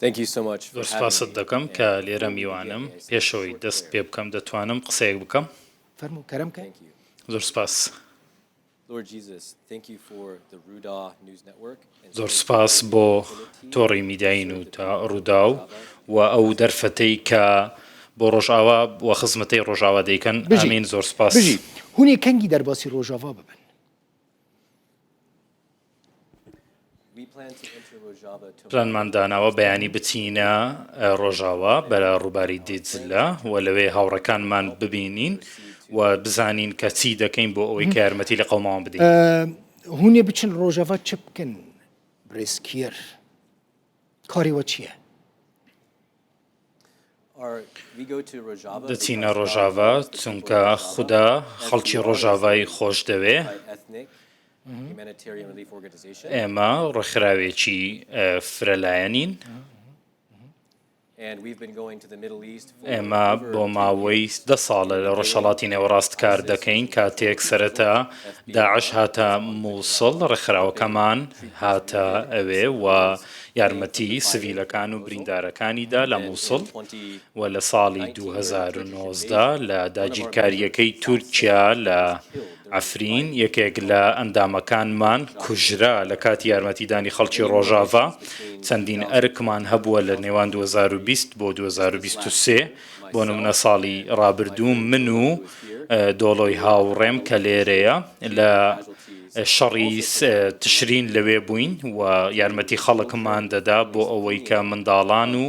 زۆر سوپاست دەکەم کە لێرە میوانم. پێشەوەی دەست پێ بکەم دەتوانم قسەیەک بکەم؟ فەرموو کەرەم کە. زۆر سوپاس. زۆر سوپاس بۆ تۆڕی میدیایی نووتا ڕووداو و ئەو دەرفەتەی کە بۆ ڕۆژاوا و خزمەتەی ڕۆژاوا دەیکەن بژین زۆر سوپاس. بژی هونی کەنگی دەرباسی ڕۆژاڤا ببن. پلانمان داناوە بەیانی بچینە ڕۆژاوا بەرە ڕووباری دیجلە و لەوێ هاوڕەکانمان ببینین و بزانین کە چی دەکەین بۆ ئەوەی کە یارمەتی لە قەوماوان بدەین هونێ بچن ڕۆژەڤ چ بکەن ڕێسکیەر کاری وە چییە؟ دەچینە ڕۆژاڤا چونکە خودا خەڵکی ڕۆژاڤای خۆش دەوێ ئێمە ڕێکخراوێکی فرەلایەنین ئێمە بۆ ماوەی دە ساڵە لە ڕۆژهڵاتی نێوەڕاست کار دەکەین کاتێک سەرەتا داعش هاتە مووسڵ ڕێکخراوەکەمان هاتە ئەوێ و یارمەتی سڤیلەکان و بریندارەکانی دا لە موسڵ و لە ساڵی دوو هەزار و نۆزدە لە داگیرکارییەکەی تورکیا لە عەفرین یەکێک لە ئەندامەکانمان کوژرا لە کاتی یارمەتیدانی خەڵکی ڕۆژاڤا چەندین ئەرکمان هەبووە لە نێوان دوو هەزار و بیست بۆ دوو هەزار و بیست و سێ بۆ نمونە ساڵی ڕابردوو من و دۆڵۆی هاوڕێم کە لێرەیە لە شەڕی تشرین لەوێ بووین و یارمەتی خەڵکمان دەدا بۆ ئەوەی کە منداڵان و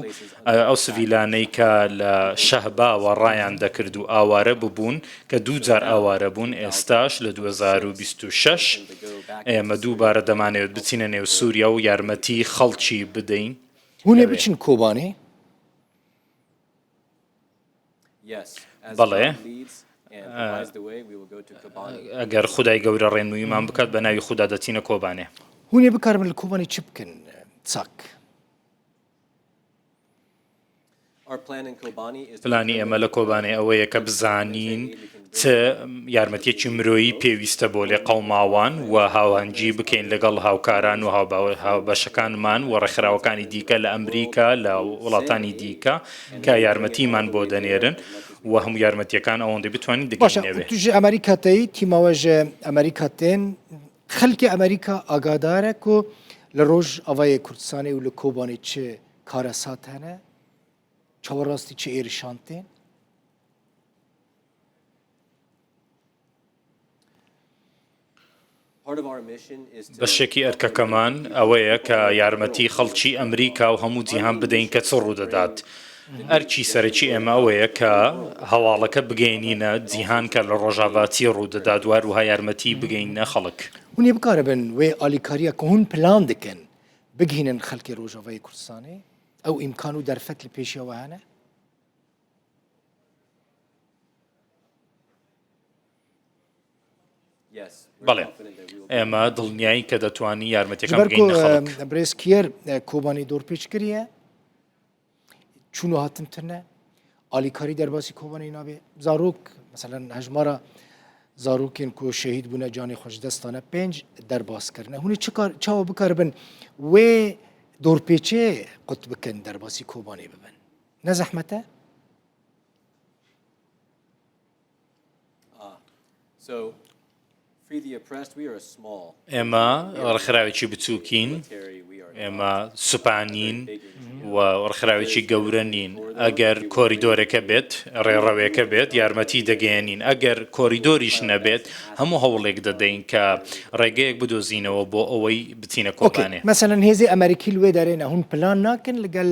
ئەو سڤیلانەی کە لە شەهباوە ڕایان دەکرد و ئاوارە ببوون کە دوو جار ئاوارە بوون ئێستاش لە 2026 ئێمە دووبارە دەمانەوێت بچینە نێو سووریا و یارمەتی خەڵکی بدەین هونێ بچن کۆبانێ؟ بەڵێ، ئەگەر خودای گەورە ڕێنموویمان بکات، بە ناوی خودا دەچینە کۆبانێ. هونێ بکاربن لە کۆبانێ چ بکەن؟ چاک. پلانی ئێمە لە کۆبانێ ئەوەیە کە بزانین. چ یارمەتیەکی مرۆیی پێویستە بۆ لێقەوماوان و هاوهەنگی بکەین لەگەڵ هاوکاران و هاوبەشەکانمان و ڕێکخراوەکانی دیکە لە ئەمریکا لە وڵاتانی دیکە کە یارمەتیمان بۆ دەنێرن و هەموو یارمەتیەکان ئەوەندەی بتوانین دەگەینەوێ. توژی ئەمریکا تەی تیمەوەژ ئەمریکا تێن خەلکی ئەمریکا ئاگادارە کو لە ڕۆژ ئاڤای کوردستانی و لە کۆبانی چ کارەساتانە چاوەڕاستی چ ئێرشان تێن؟ بەشێکی ئەرکەکەمان ئەوەیە کە یارمەتی خەڵکی ئەمریکا و هەموو جیهان بدەین کە چ ڕوودەدات. ئەرکی سەرەکی ئێمە ئەوەیە کە هەواڵەکە بگەینینە جیهان کە لە ڕۆژاڤا چی ڕوودەدات و هەروها یارمەتی بگەینە خەڵک. هونێ بکارە بن وێ ئالیکاریە کە هون پلان دکەن بگهینن خەلکێ ڕۆژاڤای کوردستانێ ئەو ئیمکان و دەرفەت لە پێشیەوە هەنە؟ بەڵێ ئێمە دڵنیایی کە دەتوانی یارمەتەکە برێز کێر کۆبانی دۆرپێچ کریە چون هاتن ترنە ئالیکاری دەرباسی کۆبانی نابێ زارۆک مثلا هەژمارە زارۆکێن کو شەهید بوونە جانی خۆشدەستانە پێنج دەرباسکردە هونی چاوە بکار بن وێ دۆرپێچێ قوت بکەن دەرباسی کۆبانی ببن نە زەحمەتە؟ ئێمە ڕخراوێکی بچووکین ئێمە سوپانین و ڕخراوێکی گەورە نین ئەگەر کۆریدۆرەکە بێت ڕێڕەوێکە بێت یارمەتی دەگەێنین ئەگەر کۆریدۆریش نەبێت هەموو هەوڵێک دەدەین کە ڕێگەیەک بدۆزینەوە بۆ ئەوەی بچینە کۆکانێ مەسەن هێزی ئەمریکی لێ دەرێنە هون پلان ناکەن لەگەل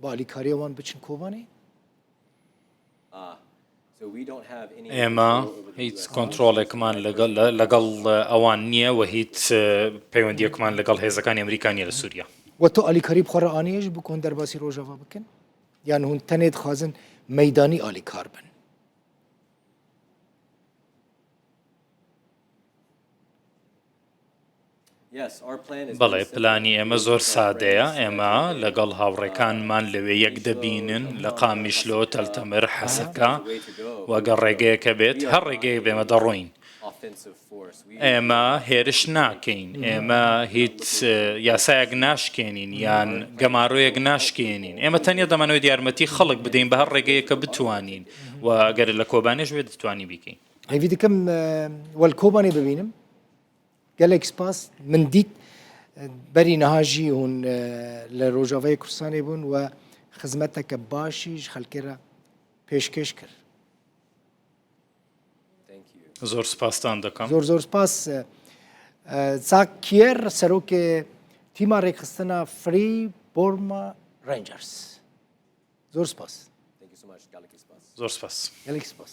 با ئالیکاری ئەوان بچن کۆبانی. ئێمە هیچ کۆنترۆڵێکمان لەگەڵ ئەوان نییە و هیچ پەیوەندیەکمان لەگەڵ هێزەکانی ئەمریکا نیە لە سووریا. وە تۆ ئالیکاری بخۆ ڕآنێژ بکۆن دەرباسی ڕۆژاڤا بکەن یان هون تەنێ دخوازن مەیدانی ئالیکار بن. بەڵێ، پلانی ئێمە زۆر سادەیە، ئێمە لەگەڵ هاوڕێکانمان لەوێ یەک دەبینن، لە قامیشلۆ، تەل تەمر، حەسەکە، و گەر ڕێگەیەکە بێت، هەر ڕێگەیەک بێت ئێمە دەڕۆین. ئێمە هێرش ناکەین، ئێمە هیچ یاسایەک ناشکێنین یان گەمارۆیەک ناشکێنین، ئێمە تەنیا دەمانەوێت یارمەتی خەڵک بدەین بە هەر ڕێگەیەک کە بتوانین، و گەر لە کۆبانێش بێت دەتوانین بیکەین. هەیڤی دکم وەلکۆمانی ببینم گەلێک سپاس من دیت بەری نەهاژی هون لە ڕۆژاوای کوردستانی بوون و خزمەتەکە باشیش خەلکێرە پێشکەش کرد زۆر سپاستان دەکەم زۆر زۆر سپاس چاک کێر سەرۆکێ تیما ڕێکخستنە فری بۆرمە ڕنجەرس زۆر سپاس زۆر سپاس گەلێک سپاس